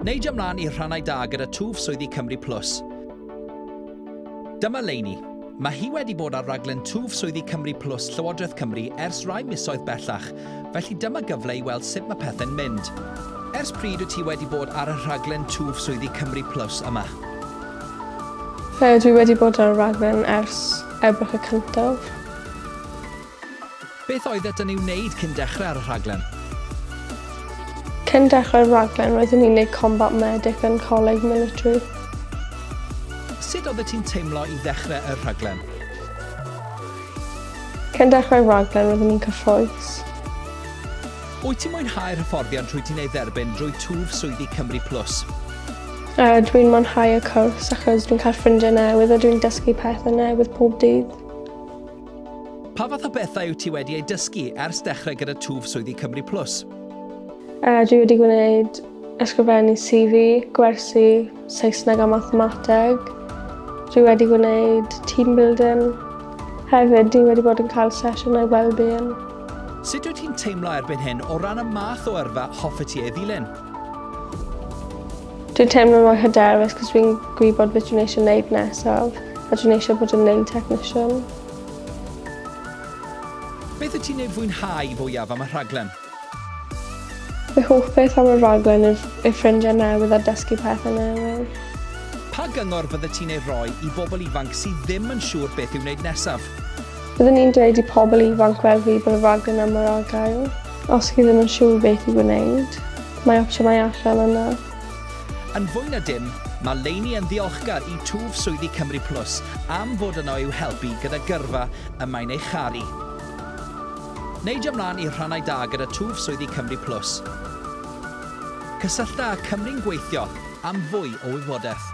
Neidio mlaen i'r rhannau da gyda twf swyddi Cymru Plus. Dyma Leini. Mae hi wedi bod ar raglen twf swyddi Cymru Plus Llywodraeth Cymru ers rai misoedd bellach, felly dyma gyfle i weld sut mae pethau'n mynd. Ers pryd wyt ti wedi bod ar y rhaglen twf swyddi Cymru Plus yma? Dwi wedi bod ar y rhaglen ers Ebrill y cyntaf. Beth oeddet yn ei wneud cyn dechrau ar y rhaglen? Cyn dechrau'r rhaglen roeddwn i'n neud Combat Medic yn Coleg Military. Sut oeddet ti'n teimlo i ddechrau y rhaglen? Cyn dechrau'r rhaglen roeddwn i'n cyffrous. Wyt ti'n mwynhau'r hyfforddiant rwyt ti'n ei dderbyn drwy twf swyddi Cymru Plus? Uh, dwi'n mwynhau y cwrs achos dwi'n cael ffrindiau newydd a dwi'n dysgu pethau newydd pob dydd. Pa fath o bethau wyt ti wedi eu dysgu ers dechrau gyda twf swyddi Cymru Plus? Uh, dwi wedi gwneud ysgrifennu CV, gwersi, Saesneg a mathemateg. Dwi wedi gwneud team building. Hefyd, dwi wedi bod yn cael sesiynau well-being. Sut wyt ti'n teimlo erbyn hyn o ran y math o yrfa hoffet ti ei ddilyn? Dwi'n teimlo mor hyderus cos fi'n gwybod beth dwi'n eisiau wneud nesaf a dwi'n eisiau bod yn nail technician. Beth y ti'n ei fwynhau fwyaf am y rhaglen? Fy hoff beth am y rhaglen yw ei ffrindiau newydd a dysgu pethau newydd. Pa gyngor fydde ti'n ei roi i bobl ifanc sydd ddim yn siŵr beth i'w wneud nesaf? Byddwn i'n dweud i pobl ifanc fel fi bod y rhaglen yma ar ar gael. Os chi ddim yn siŵr beth i wneud, mae opsiynau allan yna. Yn fwy na dim, mae Lainey yn ddiolchgar i twf swyddi Cymru Plus am fod yno i'w helpu gyda gyrfa y mae'n ei charu. Neidio mlaen i rhannau da gyda twf swyddi Cymru Plus. Cysyllta â Cymru'n Gweithio am fwy o wybodaeth.